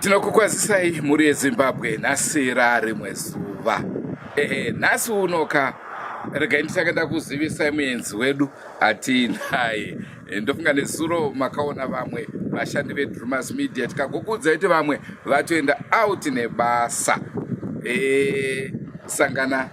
tinokukwazisai mhuri yezimbabwe nhasi rarimwe zuva ehe nhasi unoka regai nditange ndakuzivisai muenzi wedu atiinaye eh, ndofunga nezuro makaona vamwe vashandi vedrumas media tikagokuudzai kuti vamwe vatoenda out nebasa e, sangana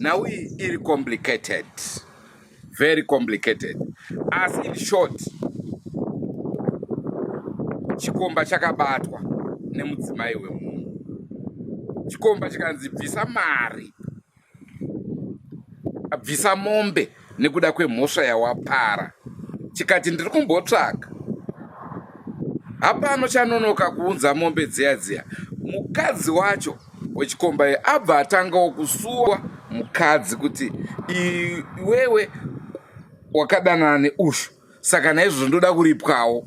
nhau iyi iri complicated very complicated asi in short chikomba chakabatwa nemudzimai wemunhu chikomba chikanzi bvisa mari abvisa mombe nekuda kwemhosva yawapara chikati ndiri kumbotsvaga hapano chanonoka kuunza mombe dziya dziya mukadzi wacho wechikombaye abva atangawo kusuwa mukadzi kuti iwewe wakadanana neushu saka naizvozvo ndoda kuripwawo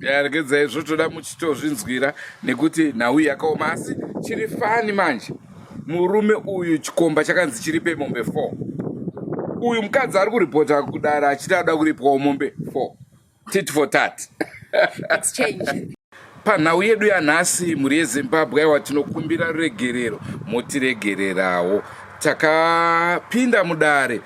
yaregedza izvo toda muchitozvinzwira nekuti nhau yakaoma asi chiri fani manje murume uyu chikomba chakanzi chiri pemombe 4 uyu mukadzi ari kuripota kudara achiti ada kuripwawo mombe 4 tit for tat panhau yedu yanhasi mhuri yezimbabwe aiwa tinokumbira ruregerero motiregererawo takapinda mudare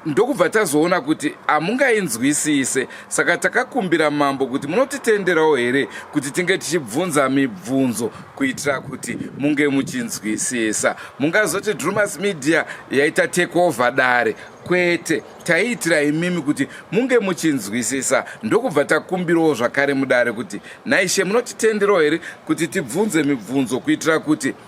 ndokubva tazoona kuti hamungainzwisise saka takakumbira mambo kuti munotitenderawo here kuti tinge tichibvunza mibvunzo kuitira kuti munge muchinzwisisa mungazoti drumas media yaita takeover dare kwete taiitira imimi kuti munge muchinzwisisa ndokubva takumbirawo zvakare mudare kuti naishe munotitenderawo here kuti tibvunze mibvunzo kuitira kuti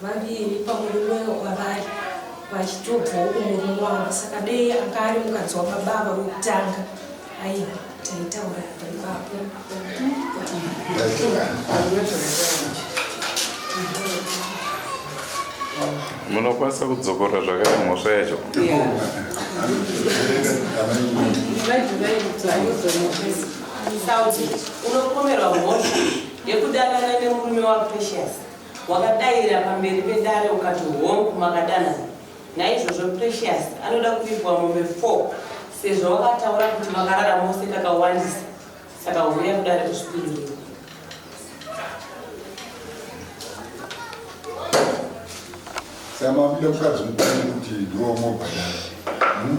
vaviri pamurume wavari vachitobvawo kumurume wavo saka dei anga ari mukadzi wababa ava wekutanga aiwa taitaura ipapo munokwanisa kudzokorora zvakare mhosva yacho unopomerwa mhosva yekudanana nemurume wapecious Wakadaira pamberi pedare ukati hongu makadanana. Naizvozvo Precious anoda kuvigwa mombe 4 sezvo wakataura kuti makarara mose kakawandisa saka huya kudare kuzvipindurira. Saka makuda kukadzi mukuru kuti ndiwo mobhadara. Hmm?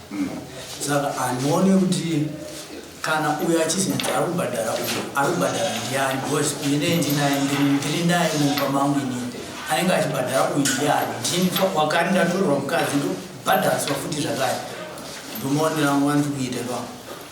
Saka handione kuti kana uyo achizinzi ari kubhadhara uyo ari kubhadhara ndiani because uyu ndee ndinaye ndiri naye mumba mangu inini anenge achibhadhara uyu ndiani ndini wakari ndatorerwa mukadzi ndobhadhariswa futi zvakare ndomaonera angu andiri kuita ipapo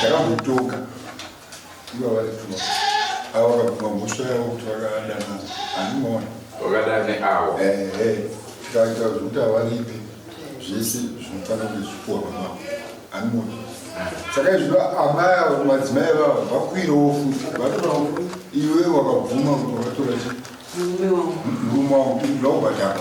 Takambotoka iva vaituma avo vakabvuma mhosva yavo kuti vakadanana hanimona vakadane avo tikaita zvekuti havaripi zvese zvinofanira kuti zvipuwa pamavo hanimona saka izvo amai avo madzimai avavo vakuirawo futi vatorawo iwe wakabvuma kuti wakatora chi murume wangu kuti ndakubhadhara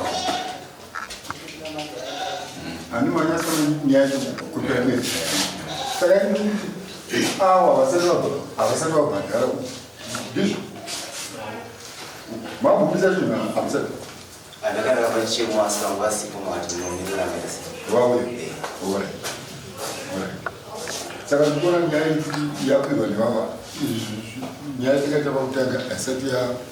saka ndikuona nyaya yapirwa nevava nyaya takaita pakutanga haisati ya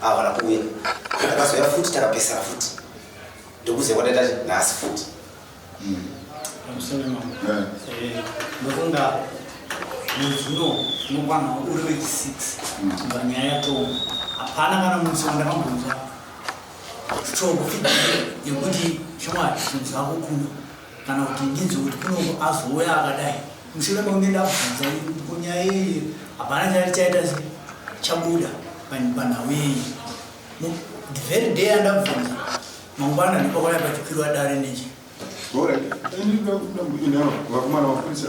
Havana kuuya. Ndakazouya futi takapesana futi. Ndokuziva kwataita kuti nhasi futi. Mm. Pamusoro mambo. Yeah. Eh, ndofunga mwedzi uno unokwana uri wechi 6 kubva nyaya yatomu hapana kana munsi wandakambonzwa strong feedback yekuti shamwari zvinhu zvako kuno kana kuti ndinzwe kuti kunongo azouya akadai mushure mekunge ndabvunza kunyaya iyi hapana chati chaita chabuda panhau iyi the very day andabvunza mangwana ndipakwaya pachikwirwa dare nechi vakumana mapurisa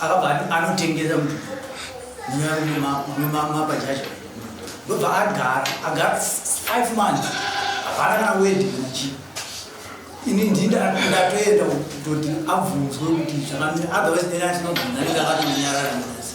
akabva ati anotengesa mutupo mumapa chacho ndobva agara agara five months hapana kana wedi kana chii ini ndindatoenda kutoti abvunzwe kuti zvakamira otherwise nene atinobvunza nenge akatonyarara musi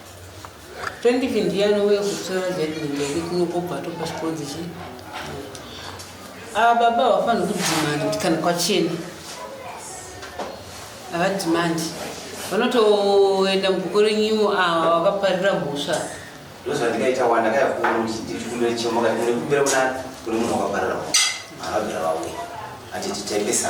20 ndiye anouya kutora vetment yake kuno kobva atopa chikonzi chii ava baba havafanira kudhimanda kuti kana kwachena havadhimandi vanotoenda muguko renyimo ava vakaparira mhosva ndozvandikaita wanda kayakuunochichikumbira kuna kune munhu wakaparira mhosva havabvira vauya atititembesa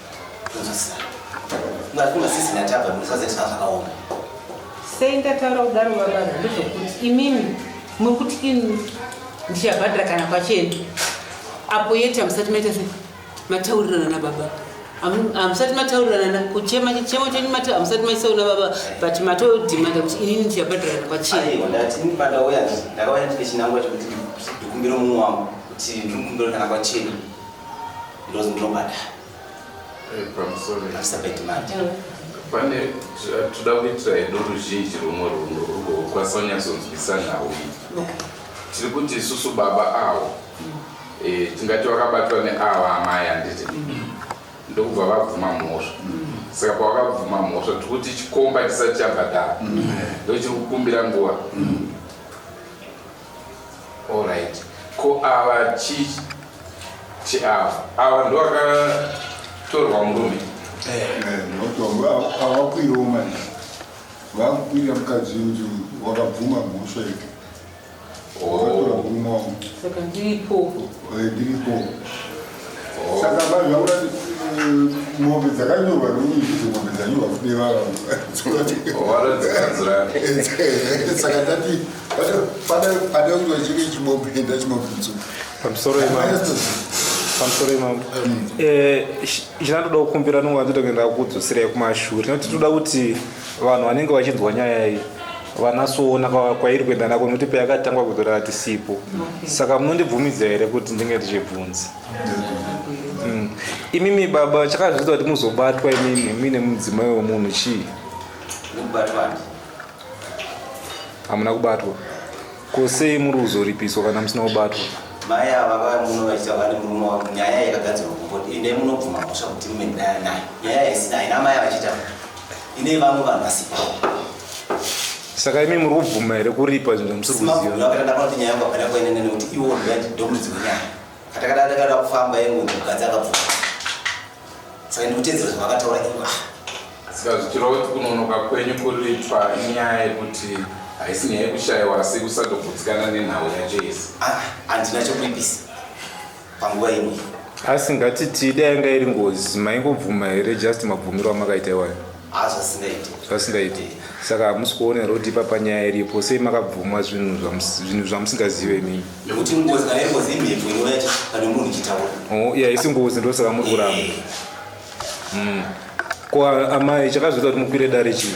sei ndataura kudaro vavana ndozvokuti imimi muri kuti ini ndichabhadhira kana kwachena apo yeti hamusati maita se mataurirana nababa hamusati mataurirana kuchema chichemo chenyu mati hamusati maisauna baba but matodhimanda kuti inini ndichabhadhira kana kwachena ndozi ndinobada eh, pamusoroasa bedimandi mm. pane toda kuitira edu ruzhinji rumwe runhu rugokwanisa kunyatsonzwisa nhau iyi tiri kuti isusu baba awo mm. eh, tingati vakabatwa neava amai anditi mm. ndokubva vabvuma mhosva saka pavakabvuma mhosva tiri kuti chikomba chisati chabhadhara ndochiri kukumbira nguva Alright. Ko ava chi chi ava. Ava ndo aka torwa murume. Eh, ndokutomba ava kuiro manje. Vava kuira mukadzi uyu wakabvuma mhosva iyo. Oh. Vakatora muruma uyu. Saka ndiripo. Eh, ndiripo. saka vazvaura mombe dzakanyorwa nomuizi mombe dzanyorwa kudevarasaka tati pada kuti vachike chimombe enda chimombe mtsuku pamusoro pamusoro imambo chinatoda kukumbira nonga nditoenda kudzosira kumashure nekuti tinoda kuti vanhu vanenge vachinzwa nyaya iyi vanasoona kwairi kuenda nako nokuti payakatangwa kudhura hatisipo okay. saka munondibvumidza here kuti ndinge ndichibvunza mm. imimi baba chakazviita kuti muzobatwa imimi muine mudzimai wemunhu chii hamuna kubatwa ko sei muri kuzoripiswa kana musina kubatwa mai ava vamuno vachiita vane murume wavo nyaya yakagadzirwa kumboti ende munobvuma mhosva kuti mume ndinaya naye nyaya haisina haina mai vachiita ine vamwe vanhu vasipo saka imi muri kubvuma here kuripa zvinhu zvamusiri kuzivaakatandaakuti nyaya yangu apana kuenda nene kuti iwo ndomudzi wenyaya katakadatakada kufamba yengu mukadzi akabvuma saka ndikutedzera zvavakataura iwa ah. saka zvichirova kuti kunonoka kwenyu kuriitwa inyaya yekuti haisi nyaya yekushayiwa asi kusatogutsikana nenhau yacho yese ah, handina chokuipisa panguva ino asi ngatiti dai yanga iri ngozi maingobvuma here just mabvumiro amakaita iwayo ah, zvasingaiti saka hamusi kuona roti ipapa nyaya iripo sei makabvuma zvinhu zvamusingazive imimi oh, ya isi ngozi ndosaka muri kuramba eh. hmm. ko amai chakazvita kuti mukwire dare chii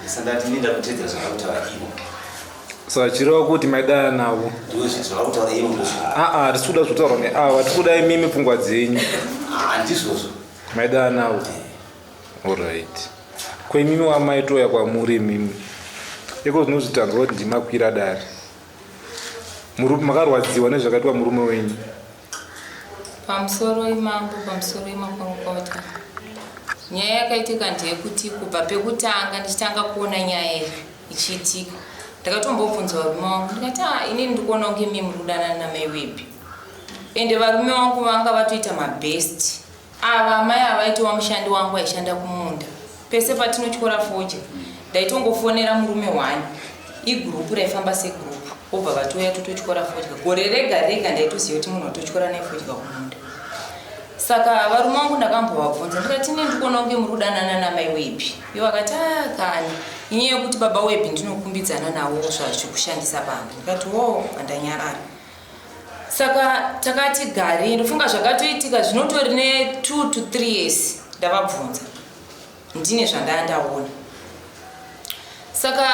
Ndisandati ndinda kutedzera zvakakutaura ivo. Saka chireva kuti maidana navo. Ndiwe zvinhu zvakakutaura ivo ndozvo. Aa tisi kuda zvitaurwa neava tiri kuda imimi pfungwa dzenyu. Haa ndizvozvo. Maidana navo. Alright. Ko imimi wamaitoya kwamuri imimi. Iko zvinozvitanzwa kuti ndimakwira dare. Murume makarwadziwa nezvakaitwa murume wenyu. Pamusoro imambo pamusoro imakorokota nyaya yakaitika ndeyekuti kubva pekutanga ndichitanga kuona nyaya iyi ichiitika ndakatombobvunza varume wangu ndikati a ah, inini ndikuona kunge mimi kudanana namai wepi ende varume wangu vanga vatoita mabest Ava amai ava vaitova mushandi wangu aishanda kumunda. Pese patinotyora fodya, ndaitongofonera murume one, igurupu raifamba segurupu, vobva vatouya tototyora fodya. Gore rega rega ndaitoziva kuti munhu watotyora naye fodya kumunda. Saka varume vangu ndakambovabvunza ndikati ine ndikuona kunge muri kudanana namai webhi. Ivo vakati ah kani, inyaya yekuti baba webhi ndinokumbidzana navo zvazvikushandisa pamba. Ndikati oh, pandanyarara. saka takati gari ndofunga zvakatoitika zvinotori netwo to three years ndavabvunza ndine zvandaya ndaona saka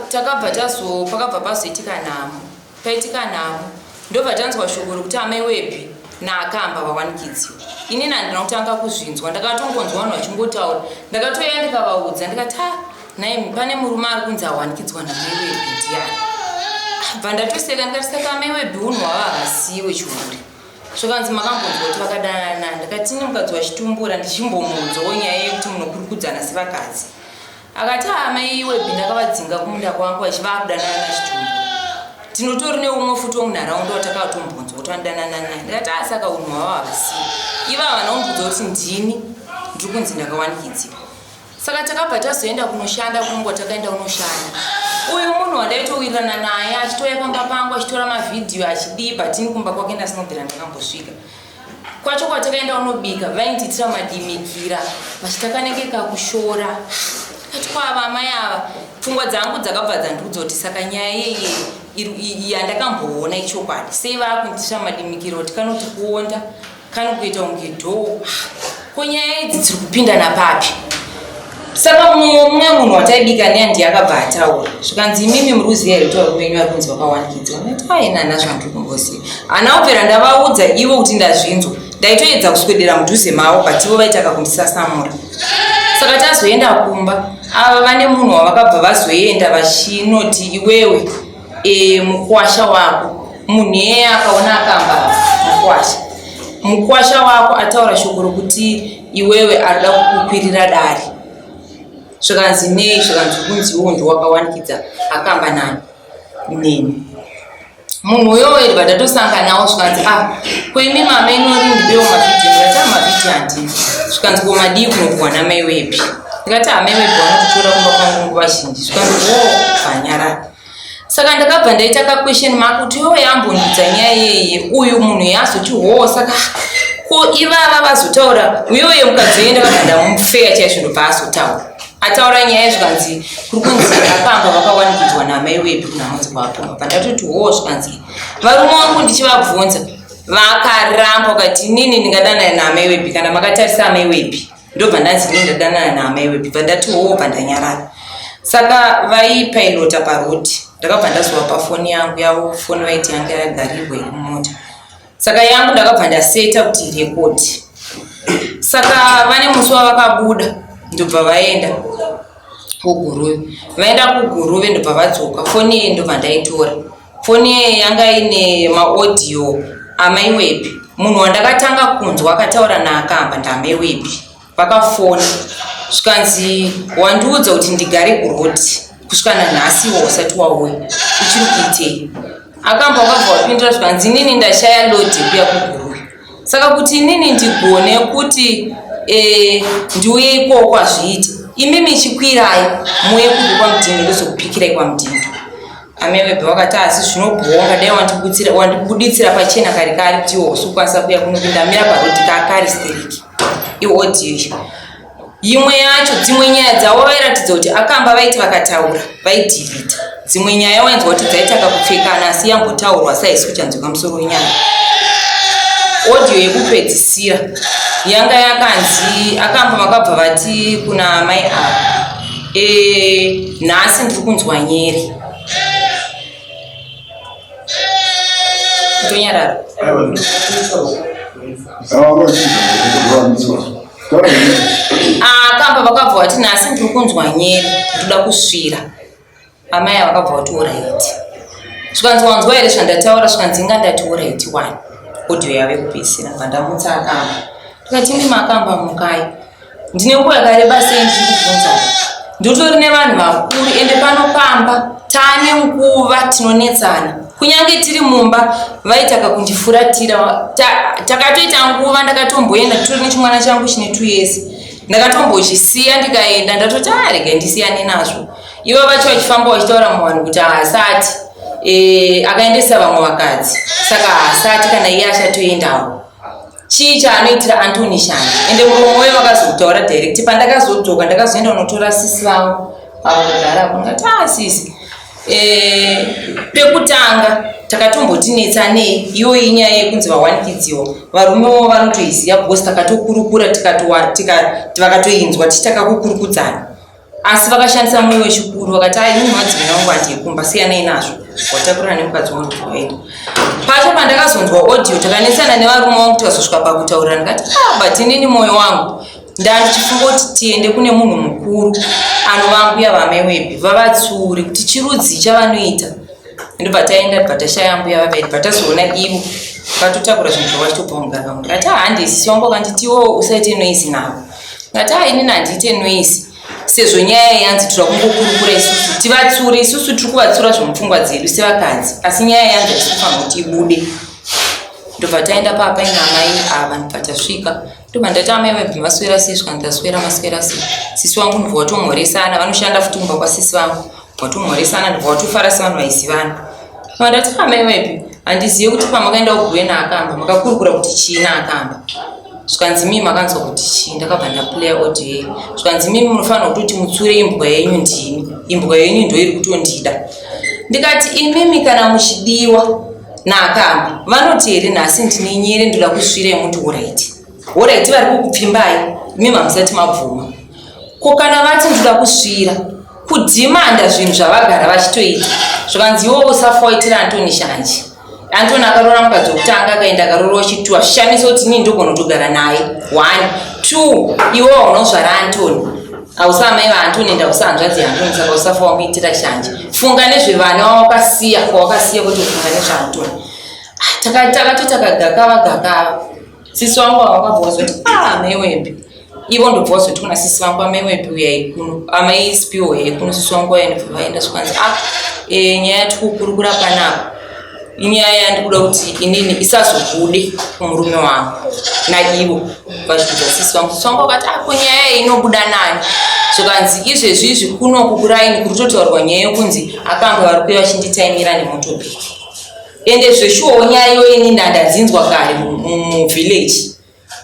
takabva tazo pakabva pazoitika nhamo paitika nhamo ndobva tanzwa shoko rokuti amai wepi naakamba vawanikidziwa inini handina kutanga kuzvinzwa ndakatongonzwa vanhu vachingotaura ndakatoya ndikavaudza ndikati ha Nhaimi, pane murume ari kunzi awanikidzwa namaiwe bhidhiyani. Bva ndatoseka ndikatisaka amai webhi unhu wava havasiiwe chihure. Zvakanzi makambonzwa kuti vakadanana ndakatini mukadzi wachitumbura ndichimbomuudzawo nyaya yekuti munokurukudzana sevakadzi. Akati amai webhi ndakavadzinga kumunda kwangu vachivava kudanana nachitumbura. Tinotori neumwe futi womunharaunda watakatombonzwa kuti vanodanana naye. Ndikati asaka unhu wava havasiiwe. Ivava vanombudza kuti ndini ndiri kunzi ndakawanikidziwa. saka takabva tazoenda kunoshanda kungo takaenda kunoshanda uyu munhu wandaitowirirana naye achitouya pamba pangu achitora mavhidhiyo achidii but ini kumba kwake ndasinobvira ndakambosvika kwacho kwatakaenda unobika vaindiitira madimikira vachitakanyenge kakushora ati kwava amai ava pfungwa dzangu dzakabva dzandiudza kuti saka nyaya yeye yandakamboona ichokwadi sei vaakundiitira madimikira kuti kanoti kuonda Kari kuita kunge dhoo. Ko nyaya idzi dziri kupinda napapi? Saka mumwe mumwe munhu wataibika neya ndiye akabva ataura zvikanzi imimi muri kuziva here kuti varume venyu vari kunzi vakawanikidzwa ndati aina hana zvandiri kumboziva hana kupera ndavaudza ivo kuti ndazvinzwa ndaitoedza kuswedera mudhuze mavo but ivo vaitaka kundisasamura saka tazoenda kumba ava vane munhu wavakabva vazoenda vachinoti iwewe e, mukwasha wako munhu iyeye akaona akamba mukwasha mukwasha wako ataura shoko rokuti iwewe arida kukukwirira dare zvikanzi nei zvikanzi kunzi iwo ndi wakawanikidza akamba nani neni munhu uyoyo ndibva ndatosanganawo zvikanzi a ah, koimi mama inori ndibewo mavhidhi ndikati amavhidhi ah, handini zvikanzi ko madii kunokuwana mai wepi ndikati amai ah, wepi vanototora kumba kwangu nguva zhinji zvikanzi wo oh, vanyarara saka ndakabva ndaita ka question mark kuti iwo yambonudza nyaya yeye uyu munhu yaazoti hoo saka ko ivava vazotaura uyoye mukadzi weye ndakabva ndamufeya chaiye zvinobva azotaura ataura nyaya zvikanzi kuri kunzi apamba vakawanikidzwa namai wepi kunamunzi kwapoma pandatoti hoo zvikanzi varume wangu ndichivabvunza vakaramba ukati inini ndingadanana namai wepi kana makatarisa amai wepi ndobva ndanzi ndine ndadanana naamai wepi bva ndati hoo bva ndanyarara saka vaipailota parod ndakabva ndazova pafoni yangu yavo foni vaiti yanga yagarirwa imota saka yangu ndakabva ndaseta kuti rekodi saka vane musi wavakabuda ndobva vaenda kuguruve vaenda kuguruve ndobva vadzoka foni iyi ndobva ndaitora Foni iye yanga ine maaudio amai wepi. Munhu wandakatanga kunzwa akataura naakamba ndamai wepi. Vakafona zvikanzi wandiudza kuti ndigare kuroti kusvika nanhasi iwo usati wauya uchiri kuitei. Akamba wakabva wapindura zvikanzi inini ndashaya lodi kuya kuguru. saka kuti inini ndigone kuti eh, ndiuye ikoko kwazviite imi michikwirai muye kubva kwamudhingi ndozokupikirai kwamudhingi amevebe wakati asi zvinobhowa ngadai wandibuditsira pachena kari kari kuti iwo usukwanisa kuya kunopinda mira paroti kakari steriki iodiyo Imwe yacho dzimwe nyaya dzavo vairatidza kuti akamba vaiti vakataura vaidhirita dzimwe nyaya wainzwa kuti dzaitanga kupfekana asi yambotaurwa saisi kuchanzwika musoro wenyaya audio yekupedzisira yanga yakanzi akamba vakabva vati kuna mai ava e, nhasi ndiri kunzwa nyeri kutonyarara akabva ah, vakabva vati nhasi ndiri kunzwa nyere ndoda kusvira amai ava vakabva vati oraiti zvikanzi wanzwa here zvandataura zvikanzi inga ndati oraiti wani audio yave kupedzisira vandamutsa akamba tikati imi makamba mukai ndine nguva yakareba sei ndiri kubvunza ndotori nevanhu vakuru ende pano pamba tane nguva tinonetsana kunyange tiri mumba vaitaka kundifuratira takatoita ta, nguva ndakatomboenda turi nechimwana changu chine two years ndakatombochisiya ndikaenda ndatoti arega ah, ndisiyane nazvo ivo vacho vachifamba vachitaura muvanhu kuti haasati e, akaendesa vamwe vakadzi saka haasati kana iye achatoendawo Chii chaanoitira Antony shanje ende muromo uye vakazokutaura direct pandakazodzoka ndakazoenda unotora sisi vavo avo kugara apo ndikati ah sisi eh, pekutanga takatombotinetsa nei iyoyo inyaya yekunzi vawanikidziwa varume vavo vanotoiziva because takatokurukura tikati vakatoinzwa tichitaka kukurukudzana asi vakashandisa mwoyo wechikuru vakati ai munhu wadzimina wangu ati yekumba siyanei nazvo watakurana nemukadzi wangu kuenda pacho pandakazonzwa audio takanetsana nevarume wangu tikazosvika pakutaurira ndikati ah, but inini mwoyo wangu ndandichifunga kuti tiende kune munhu mukuru anovambuya vamewepi vavatsuri kuti chirudzii chavanoita ndobva taenda bva tashaya mbuya vavedi bva tazoona ivo vatotakura zvinhu zvavachitobva mugara vamwe ati ah, handisisi wangu vakanditiwo usaite noizi navo Ngataa inini handiite noise sezvo nyaya yanzi tiri kungokurukura isusu tivatsuri isusu tiri kuvatsura zvemupfungwa dzedu sevakadzi asi nyaya yanzi hatisi kufanira kuti ibude ndobva taenda papa ina amai ava ndobva tasvika ndobva ndati amai vabva maswera sei svika ndaswera maswera sei sisi vangu ndobva vatomhoresana vanoshanda futi kumba kwasisi vangu Watomhoresana ndipo watofara sevanhu vaisivana. Mandati pama iwepi handizive kuti pamakaenda kuguve naakamba makakurukura kuti chii naakamba zvikanzi mii makanzwa kuti chii ndakabva ndaplayer audio yei zvikanzi mii munofanira kutoti mutsure imbwa yenyu ndini imbwa yenyu ndoiri kutondida ndikati imimi kana muchidiwa naakamba vanoti here nhasi ndine nyere ndoda kusvira yemuti horaiti horaiti vari kukupfimbai imimi hamusati mabvuma ko kana vati ndida kusvira kudhimanda zvinhu zvavagara vachitoita zvikanzi iwo usafa waitira antoni shanje antoni akarora mukadzi wekutanga akaenda akarora wechitwa zvishamiso kuti nii ndogona kutogara naye one two iwo unozvara antoni hausa amai vaantoni enda usa hanzvadzi yaantoni saka usafa wamuitira shanje funga nezvevana wawakasiya kwawakasiya kuti ufunga nezvaantoni ah, takati takagakava gakava sisi wangu awakabva wazoti ah mewembe ivo ndobva wazoti kuna sisi vangu amewembe uyai kuno amai spiwo yai kuno sisi wangu waenda vaenda zvikanzi ah e, nyaya yatikukurukura panapa inyaya yandikuda kuti inini isazobude kumurume wangu naivo vachibvudza sisi vangu sisi wangu wakati ako ah, nyaya inobuda nani zvikanzi izvezvi izvi kuno kukuraini kuri totaurwa nyaya yokunzi akanga vari kuye vachinditaimira nemotobiki Ende zveshuwo nyaya iyoyo ini ndandadzinzwa kare muvillage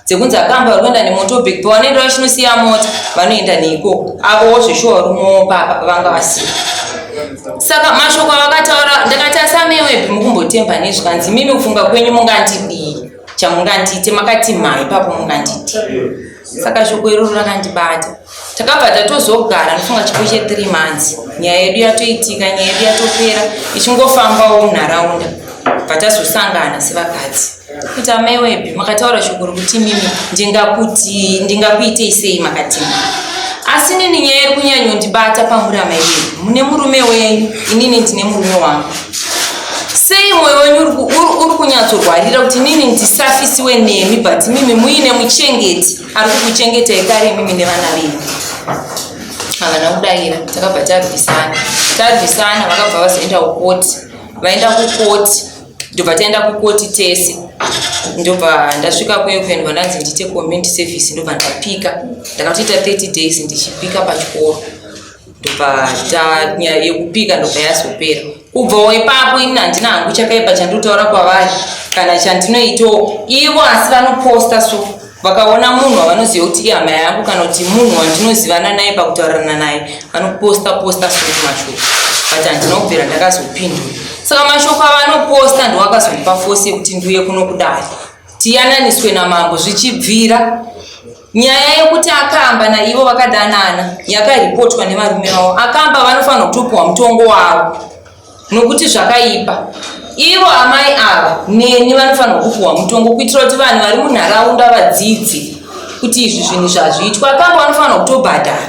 dzekunzi akamba vari kuenda nemotobek pavanoenda vachinosiya mota vanoenda neikoko avowo zveshuwa vari mopapa pavanga vasika saka mashoko avakataura ndakati asamewepi mukumbotemba nezvikanzi imimi kufunga kwenyu mungandidii chamungandiite makati mhai papo munganditi saka shoko iroro rakandibata takabva tatozogara ndofunga chipo chethree months nyaya yedu yatoitika nyaya yedu yatopera ichingofambawo munharaunda bva tazosangana sevakadzi kuti amaiwebhi makataura shoko rokuti mimi ndingakuti ndingakuitei sei makatima asi nini nyaya iri kunyanyondibata pamuri amaiwebhi mune murume wenyu inini ndine murume wangu sei mwoyo wenyu uri kunyatsorwarira kuti nini ndisafisiwe nemi but mimi muine muchengeti ari kukuchengetai kare imimi nevana venyu havana kudaira takabva tarwisana tarwisana vakabva vazoenda kukoti vaenda kukoti ndobva taenda kukoti tese ndobva ndasvika kuyo kuenda vandanzi ndiite community service ndobva ndapika ndakatoita 30 days ndichipika pachikoro ndobva nyaya yekupika ndobva yazopera kubvawo ipapo ini handina hangu chakaipa chandinotaura kwavari kana chandinoitawo ivo asi vanoposta so vakaona munhu wavanoziva kuti ihama yangu kana kuti munhu wandinozivana naye pakutaurirana naye vanoposta posta so mashoko but handina kubvira ndakazopindura saka mashoko avanoposta ndowakazondipa fose yekuti ndiuye kunokudai tiyananiswe namambo zvichibvira Nyaya yekuti akamba naivo vakadanana yakaripotwa nevarume vavo. Akamba vanofanirwa kutopiwa mutongo wavo nokuti zvakaipa. Ivo amai ava neni vanofanirwa kupiwa mutongo kuitira kuti vanhu vari munharaunda vadzidzi kuti izvi zvinhu zvazviitwa. Akamba vanofanirwa kutobhadhara.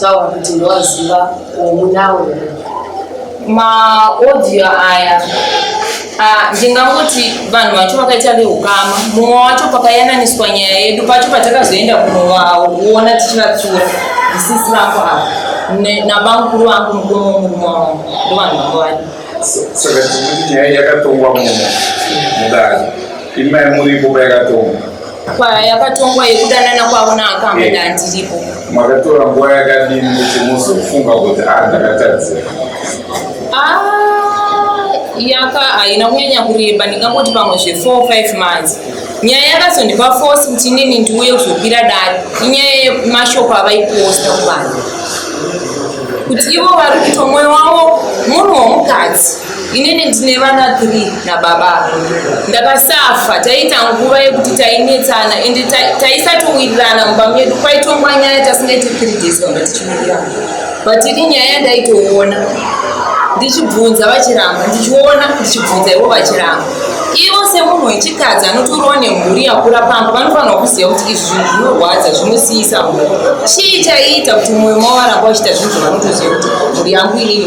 taura kuti ndowaziva omunawo maaudio aya ah, ndingangoti vanhu vacho vakaita veukama mumwe wacho pakayananiswa nyaya yedu pacho patakazoenda kunovaona tichivatsura zisisi vangu ava nabamukuru vangu mukomo murume wangu ndo vanhu vanga vadi saka tikuti nyaya yakatongwa muno mudare imai muripo payakatongwa kwayakatongwa yekudanana kwavo naakamba eh. ndandiripo makatora nguva yakadini kuti muzofunga kuti a ah, ndakatadzira ah, yaka haina kunyanya kureba ndingangoti pamwe zve4 5 months nyaya yakazondipa force kuti inini ndiuye kuzopira dare inyaya yemashoko avaiposta kuvanhu kuti ivo vari kuto mwoyo wavo munhu womukadzi inini ndine vana three nababa ndakasafa taiita nguva yekuti tainetsana and taisatowirirana mumba medu kwaitongwa nyaya tasingaiti three days vanga tichiwirirana but ini nyaya ndaitoona ndichibvunza vachiramba ndichiona ndichibvunza ivo vachiramba ivo semunhu wechikadzi anotoriwa nemhuri yakura pamba vanofanirwa kuziva kuti izvi zvinhu zvinorwadza zvinosiisa mhuri chii chaiita kuti mwoyo mavo varamba vachita zvinhu zvavanotoziva kuti mhuri yangu inini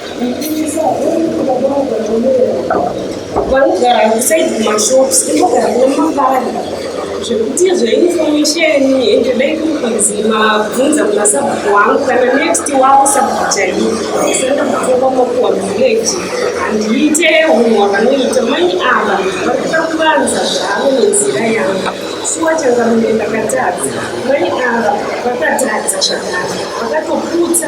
vanogara kusaidi kumashops inogara nemabari zvekuti zveinformation ende dai kuri kunzi mabvunza kuna sabhuku wangu kana next wavo sabhuku chaivo senda kutonga makuwa village handiite hunhu hwavanoita mai ava varikuda kuvanza zvavo nenzira yangu shuwa changamire ndakatadza mai ava vakatadza zvakare vakatoputsa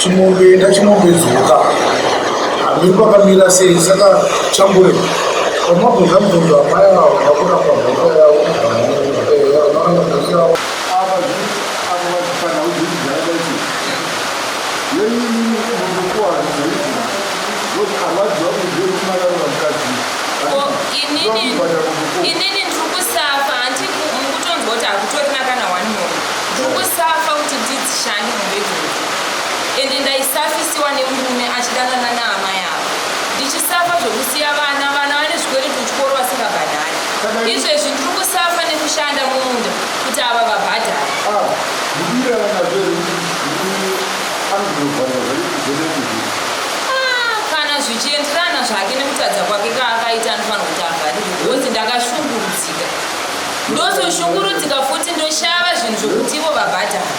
chimombe ndachimombe dzoka hamiri kwakamira sei saka chambure pamabvunza mubvunzo amai avo vakona pamhoka yavo inini ndiri kusafa hanti mukutonzwa kuti hakutorina kana one more ndiri kusafa kuti ndidzishande ende ndaisafisiwa nemurume achidanana naama yavo ndichisafa zvekusiya vana vana vane zvikweretu kuchikoro vasingabhadhari izvezvi ndiri kusafa nekushanda mumunda kuti ava vabhadhari ah, ah, kana zvichienderana zvake nekutadza kwake kaakaita anofanira kuti avharirwe bhozi ndakashungurudzika ndozoshungurudzika futi ndoshava zvinhu zvokuti ivo vabhadhari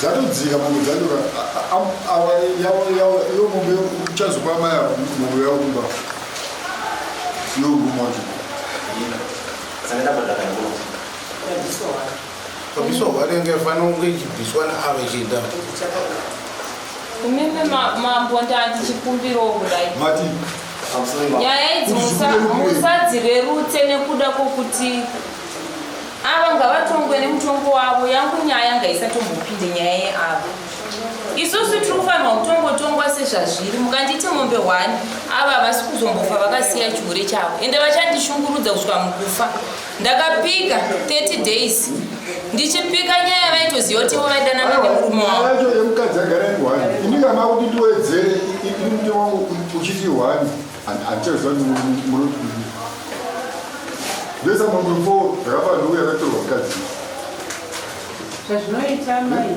dzatodzika mombe dzanyora awa iyo mombe uchazopa amai avo mombe yavo kumba iyo nguma wacho kabisa wanenge fanira kunge ichibviswa naava ichienda umeme mambo ndandichikumbiro kudai mati nyaya idzi musadzirerutse nekuda kwokuti Ava ngavatongwe nemutongo wavo yangu nyaya ngaisatombopinde nyaya yeavo isusu tiri kufanirwa kutongotongwa sezvazviri mukanditi mombe hwani ava havasi kuzombofa vakasiya chihure chavo ende vachandishungurudza kusvika mukufa ndakapika 30 days ndichipika nyaya vaitoziva kuti ivo vaidanana nemurume wavo yemukadzi agara ihwani ini kana kuti ndiwedzere ini muti wangu uchiti hwani zvazvinoita mai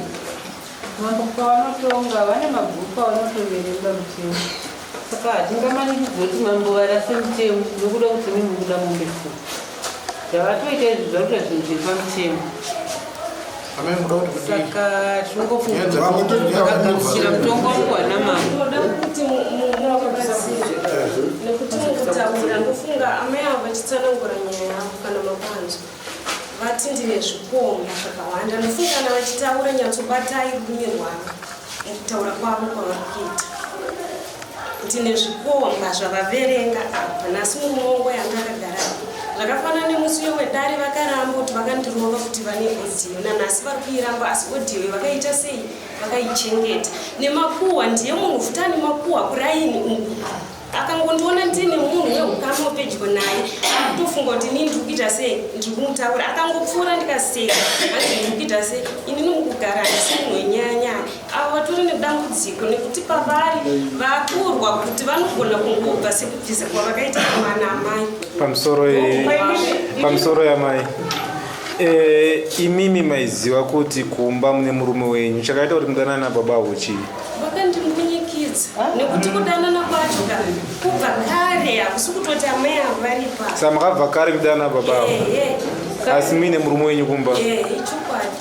mambo pavanotonga vane mabhuku avanotoverenga mutemo saka hatingamanikidzo kuti mambo varase mutemo nokuda kuti mi mukuda mombe fuu zvavatoita izvi zvakuta zvinhu zvepamutemo saka tingofungakuchira mutongo wangu wana mambonokuti mukutaura ndofunga amai avo vachitsanangura nyaya yavo kana mapanzwa vati ndine zvikomo zvakawanda ndofungana vachitaura nyatsobatai rurimi rwavo mukutaura kwavo kwavari kuita Tine zvikomba zvavaverenga apa nhasi mumongo yanga akagara zvakafanana nemusiyo wedare vakaramba kuti vakandirova kuti vane odio nanhasi vari kuiramba asi odio vakaita sei vakaichengeta nemakuhwa ndiye munhu futa nemakuhwa kuraini uku akangondiona ndine munhu weukama upedyo naye akutofunga kuti inini ndiri kuita sei ndiri kumutaura akangopfuura ndikaseka hanzi ndiri kuita sei inini mukugara asi munhu wenyayanyaya avo vatori nedambudziko nekuti pavari vakurwa kuti vanogona kungobva sekubvisa kwavakaita kumana amai pamusoro yamai eh, imimi maiziva kuti kumba mune murume wenyu chakaita kuti mudanana nababa avo chii vakandimbunyikidza nekuti kudanana kwacho ka kubva kare hakusi kutoti amai avo varipa sa makabva kare kudanana baba avo asi muine murume wenyu kumba ichokwadi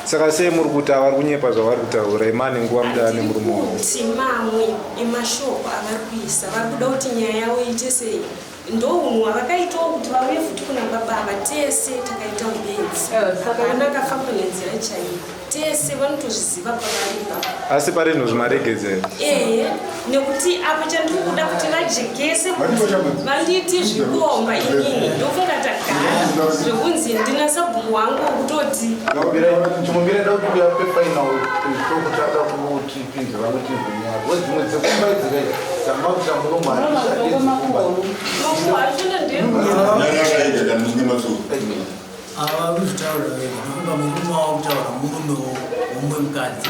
saka sei muri kuti avari kunyepa zvavari kutaura imani nguva mudava nemurume wauti mamwe emashoko avari kuisa vari kuda kuti nyaya yavo iite sei ndounhu hwavakaitawo kuti vauye futi kuna baba ava tese takaita ubenzi ana akafamba nenzira chaiyo tese vanotozviziva pavari ipapo asi pari nhu zvimaregedzero ehe nekuti apo chandiri kuda kuti vajekese vandiiti zvikomba inini ndofunga tagara zvekunzi ndina sabhuku wangu wekutoti ava kuzvitaura murume wavo kutaura murume womumwe mukadzi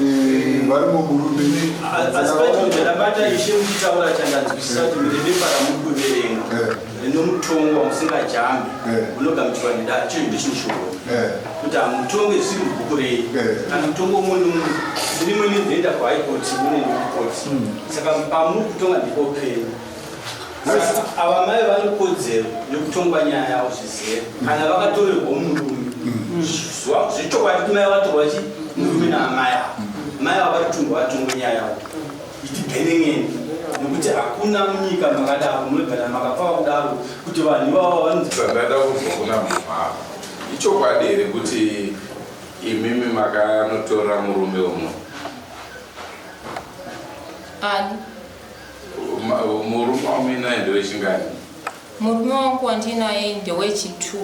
Eh, vari muburume asi patinge ndabata ishe muchitaura chandanzwisisa kuti mune bepa ramuri kuverenga eh. rine mutongo wamusingajambi eh. unogamuchirwa nedare chii ndicho shoko kuti hamutonge zvisiri mubhuku rei kana mutongo umwe nomunhu ziri mwe nivhenda kwahaikoti mune ndikukoti hmm. saka pamuri kutonga ndikopei ava mai vane kodzero yekutongwa nyaya yavo zvizive kana vakatorerwa murume zvechokwadi kumai vatorwa chi murume naamai avo mai ava vatongwa vatongwa nyaya yavo itibhenengeni nekuti hakuna munyika makadaro munogara makapava kudaro kuti vanhu ivavo vanozvandada kuzwa kuna munhu avo ichokwadi here kuti imimi makanotora murume umwe ani Murume wamuinaye ndewechingani? Murume wangu wandinaye ndewechitwo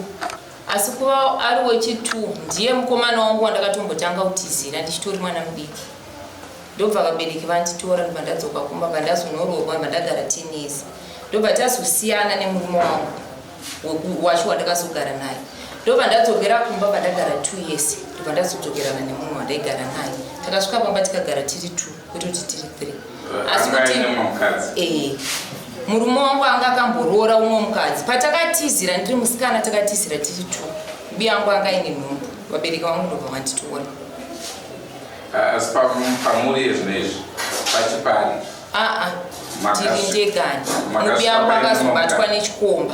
asi kuva ari wechitwo ndiye mukomana wangu wandakatombotanga kutizira ndichitori mwana mudiki ndobva vabereki vanditora ndobva ndadzoka kumba bva ndazonoroorwa bva ndagara tenesi ndobva tazosiyana nemurume wangu wacho wandakazogara naye ndobva ndadzokera kumba bva ndagara two years ndobva ndazodzokerana nemunhu wandaigara naye takasvika pamba tikagara tiri two kwete kuti tiri three asi kuti eh, murume wangu anga akamboroora umwe mukadzi patakatizira ndiri musikana takatizira tiri two mbuya yangu anga aine nhumbu vabereki vangu ndobva vanditoona ah, asi pamuri ezvino izvi pachipari aa ah, ah, tiri ndegani mbuya yangu akazobatwa nechikomba